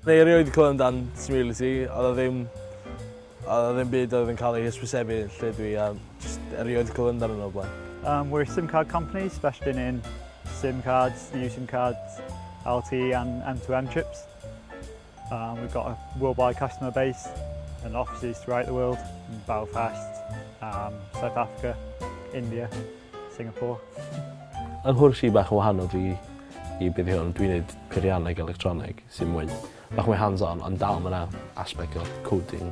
Dwi erioed wedi clywed amdan Smility, oedd o ddim... oedd o ddim byd oedd yn cael ei hysbysebu lle dwi a jyst erioed wedi clywed amdanyn nhw o'r blaen. Um, we're a SIM card company specialising in SIM cards, new SIM cards, LTE and M2M chips. Um, we've got a worldwide customer base and offices throughout the world, in Belfast, um, South Africa, India, Singapore. Yng nghwrs i bach yn wahanol fi i beth hwn, dwi'n neud peirianneg electronig sy'n mwy bach mwy hands-on, ond dal mae'na aspect o coding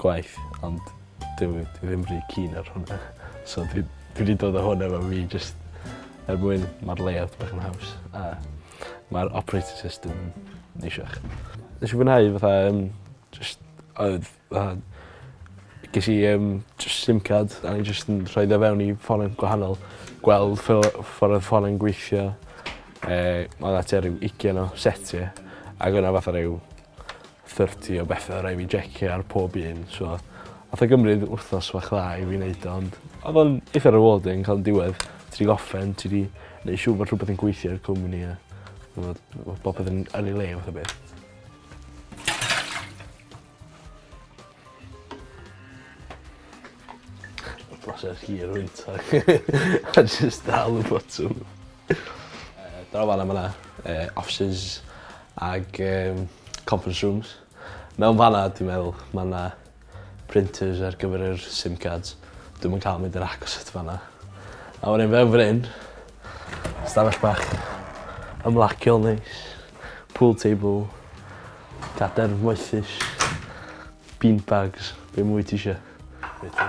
gwaith ond dw i ddim rhy keen ar hwnna so dwi dwi 'di dod â hwn efo fi jyst er mwyn ma'r layout bach yn haws a ma'r operating system yn neisiach. Nesh i fwynhau fatha yym jyst oedd fatha ges i yym jyst sim card a o'n i jyst yn rhoid o fewn i ffonau gwahanol gweld fel yy ffor odd ffonau'n gweithio yy ma' 'na tua ryw ugian o setie ag o' 'na fatha ryw thirty o bethe rai' fi jeciau ar pob un so nath e gymryd wthnos fach dda i fi neud o ond odd o'n itha rewarding ca'l yn diwedd ti 'di gorffen ti 'di neu' siŵr bod rhwbeth yn gweithio i'r cwmni a t'mod ma' popeth yn yn ei le fath o beth. Broses hir wyntog. A jyst dal y botwm. Yy draw fan 'na ma' 'na yy offices ag yym conference rooms. Mewn fan 'na dwi meddwl ma' 'na printers ar gyfer yr sim cards. Dwi'm yn ca'l mynd i'r agos at fan 'na. A wedyn mewn fan 'yn stafell bach ymlaciol neis. Pool table. Cadar moethus. Bean bags. Be' mwy tisio. Be' ti...